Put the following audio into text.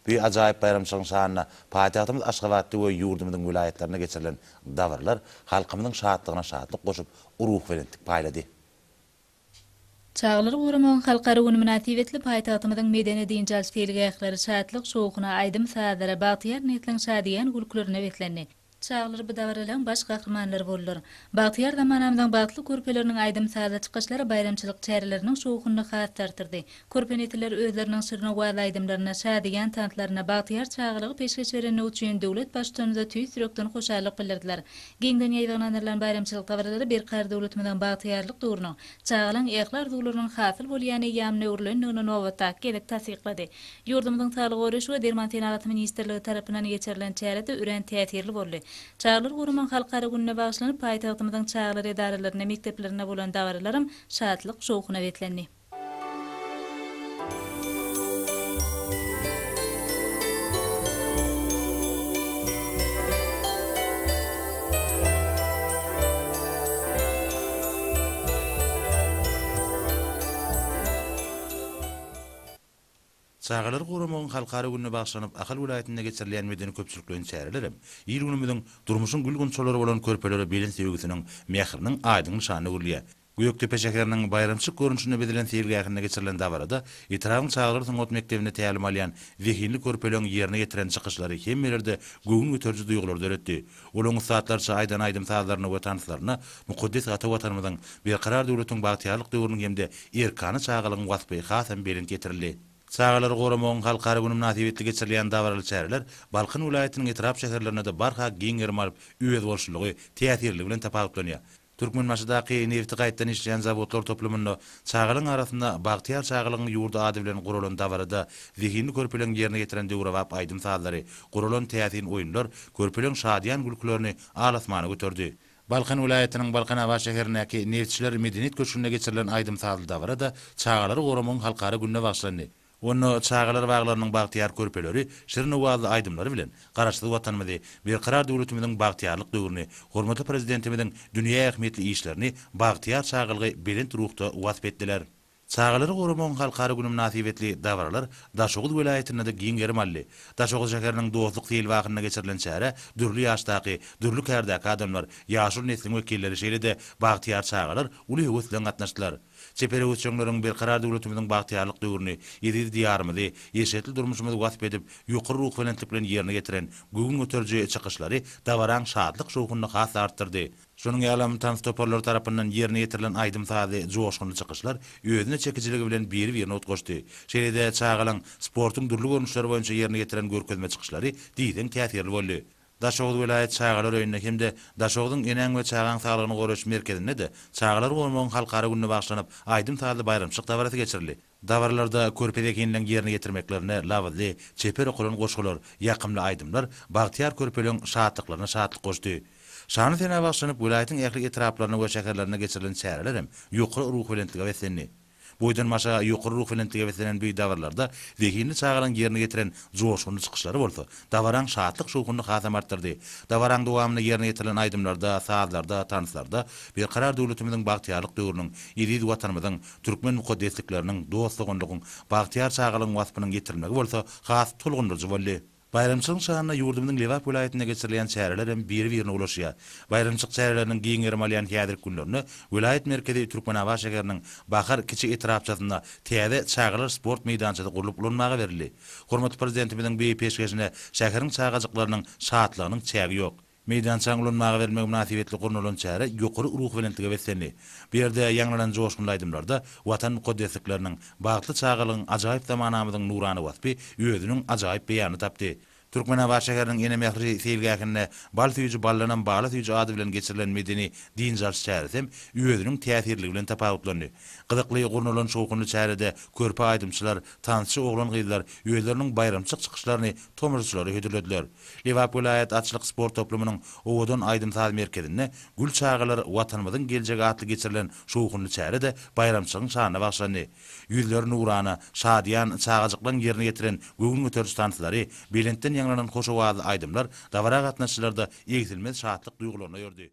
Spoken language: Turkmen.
Bu ajaýyp baýramçylygyň şanyna paýtagtymyz Aşgabatda we ýurdumyzyň welaýatlarynda geçirilen dabaralar halkymyzyň şatlygyna şatlyk goşup, ruhubelentlik paýlady. Çagalary goramagyň halkara güni mynasybetli paýtagtymyzyň medeni-dynç alyş seýilgähleri şatlyk-şowhuna, aýdym-sazlara, bagtyýar nesliň şadyýan gülkülerine beslendi. Çagalar bu dabaralaryň baş gahrymanlary boldular. Bagtyýar zamanamyzyň bagtly körpeleriniň aýdym-sazly çykyşlary baýramçylyk çäreleriniň şowhunyny has-da artyrdy. Körpe nesiller özleriniň şirinowaz aýdymlaryna, şadyýan tanslaryna, bagtyýar çagalygy peşgeş berendigi üçin döwlet Baştutanymyza tüýs ýürekden hoşallyk bildirdiler. Giňden ýaýbaňlandyrylan baýramçylyk dabaralary Berkarar döwletimiziň bagtyýarlyk döwrüniň, Çagalaň ähli arzuwlarynyň hasyl bolýan eýýamyna öwrülendigini nobatdaky gezek tassyklady. Ýurdumyzyň Saglygy goraýyş we derman senagaty ministrligi tarapyndan geçirilen çäre-de örän täsirli boldy. Çagalary goramagyň halkara gününe bagyşlanyp, paýtagtymyzyň çagalar edaralarynda, mekdeplerinde bolan dabaralaram şatlyk, şowhuna beslendi. Çagalary goramagyň halkara gününe bagyşlanyp Ahal welaýatynda geçirilýän medeni-köpçülikleýin çärelerem il-günümiziň durmuşyň gül-gunçalary bolan körpelere belent söýgüsiniň, mähriniň aýdyň nyşanyna öwrülýär. Gökdepe şäheriniň baýramçylyk görnüşinde bezilen seýilgähinde geçirilen dabarada etrabyň çagalar sungat mekdebinde tälim alýan zehinli körpeleriň ýerine ýetiren çykyşlary hemmelerde göwün göteriji duýgulary döretdi. Olaryň ussatlarça aýdan aýdym-sazlaryna we tanslaryna mukaddes ata Watanymyzyň, berkarar döwletiň bagtyýarlyk döwrüniň hem-de erkana çagalygyň waspy hasam belent ýetirildi. Çagalary goramagyň halkara güni mynasybetli geçirilýän dabaraly çäreler Balkan welaýatynyň etrap-şäherlerinde-de barha giň gerim alyp, özboluşlylygy, täsirliligi bilen tapawutlanýar. Türkmenbaşydaky nebti gaýtdan işleýän zawodlar toplumynda çagalaryň arasynda Bagtyýar çagalygyň ýurdy ady bilen guralan dabarada zehinli körpeleň ýerine ýetiren döwrebap aýdym-sazlary, guralan täsin oýunlar körpeleň şadyýan gülkülerini al-asmana göterdi. Balkan welaýatynyň Balkanabat şäherindäki Neftçiler medeniýet köşgünde geçirilen aýdym-sazly dabara-da çagalary goramagyň halkara gününe bagyşlandy. Onda çagalar baglarynyň bagtyýar körpeleri şirin owazly aýdymlary bilen Garaşsyz Watanymyzy, Berkarar döwletimiziň bagtyýarlyk döwrüni, hormatly Prezidentimiziň dünýä ähmiýetli işlerini, bagtyýar çagalgy belent ruhda wasp etdiler. Çagalary goramagyň halkara güni mynasybetli dabaralar Daşoguz welaýatynda-da giň gerim aldy. Daşoguz şäheriniň Dostluk seýilgahynda geçirilen çärä dürli ýaşdaky, dürli kärdäki adamlar, ýaşuly nesliň wekilleri şeýle-de bagtyýar çagalar uly höwes bilen gatnaşdylar. Çeper öwütjeňleriň Berkarar döwletimiziň bagtyýarlyk döwrüni, eziz Diýarymyzy, eşretli durmuşymyzy wasp edip, ýokary ruhubelentlik bilen ýerine ýetiren göwün göteriji çykyşlary dabaraň şatlyk-şowhunyny has-da artdyrdy. Şonuň ýaly hem tans toparlary tarapyndan ýerine ýetirilen aýdym-sazly, joşgunly çykyşlar özüne çekijiligi bilen biri-birine utgaşdy. Şeýle-de çagalaň sportuň dürli görnüşleri boýunça ýerine ýetiren görkezme çykyşlary diýseň täsirli boldy. Daşoguz welaýat çagalar öýünde hem-de Daşoguzyň Eneň we çagaň saglygyny goraýyş merkezinde-de Çagalary goramagyň halkara gününe bagyşlanyp aýdym-sazly baýramçylyk dabarasy geçirildi. Dabaralarda körpe zehinleň ýerine ýetirmeklerine labyzly, çeper okalan goşgular, ýakymly aýdymlar bagtyýar körpeleň şatlyklaryna şatlyk goşdy. Şanly senä bagyşlanyp welaýatyň ähli etraplaryna we şäherlerine geçirilen çäreler hem ýokary ruhubelentlige beslendi. Boýdan-başa ýokary ruhubelentlige beslenen bu dabarlarda zehinli çagalaryň ýerine ýetiren joşgunly çykyşlary bolsa, dabaraň şatlyk-şowhunyny hasam artdyrdy. Dabaraň dowamynda ýerine ýetirilen aýdymlarda, sazlarda, tanslarda Berkarar döwletimiziň bagtyýarlyk döwrüniň, eziz Watanymyzyň, türkmen mukaddeslikleriniň, dost-doganlygyň, bagtyýar çagalygyň waspynyň ýetirilmegi bolsa has tolgundyryjy boldy. Baýramçylygyň şanyna ýurdumyzyň Lebap welaýatynda geçirilýän çäreler hem biri-birine ulaşýar. Baýramçylyk çäreleriniň giň gerim alýan häzirki günlerinde welaýat merkezi Türkmenabat şäheriniň Bahar kiçi etrapçasynda täze çagalar sport meýdançasy gurlup ulanmaga berildi. Hormatly Prezidentimiziň beýik peşgeşine şäheriň çagajyklarynyň şatlygynyň çägi ýok. Meýdançany ulanmaga bermegi mynasybetli gurnalan çäre ýokary ruhubelentlige beslendi. Bu ýerde ýaňlanan joşgunly aýdymlarda Watan mukaddeslikleriniň, bagtly çagalygyň, ajaýyp zamanamyzyň nurana waspy özüniň ajaýyp beýanyny tapdy. Türkmenabat şäheriniň Ene mähri seýilgähinde Bal süýji ballanam bala süýji ady bilen geçirilen medeni dynç alyş çäresi hem özüniň täsirligi bilen tapawutlandy. Gyzykly gurnalan şowhunly çärede körpe aýdymçylar, tansçy oglan-gyzlar özleriniň baýramçylyk çykyşlaryny tomaşaçylara hödürlediler. Lebap welaýat atçylyk sport toplumynyň Owadan aýdym-saz merkezinde Gül çagalar, Watanymyzyň geljegi atly geçirilen şowhunly çäre-de baýramçylygyň şanyna bagyşlandy. Ýüzleri nurana, şadyýan çagajyklaryň ýerine ýetiren göwün göteriji tanslary, belentden ýaňlanan hoş owazly aýdymlar dabara gatnaşyjylarda egsilmez şatlyk duýgularyny ördi.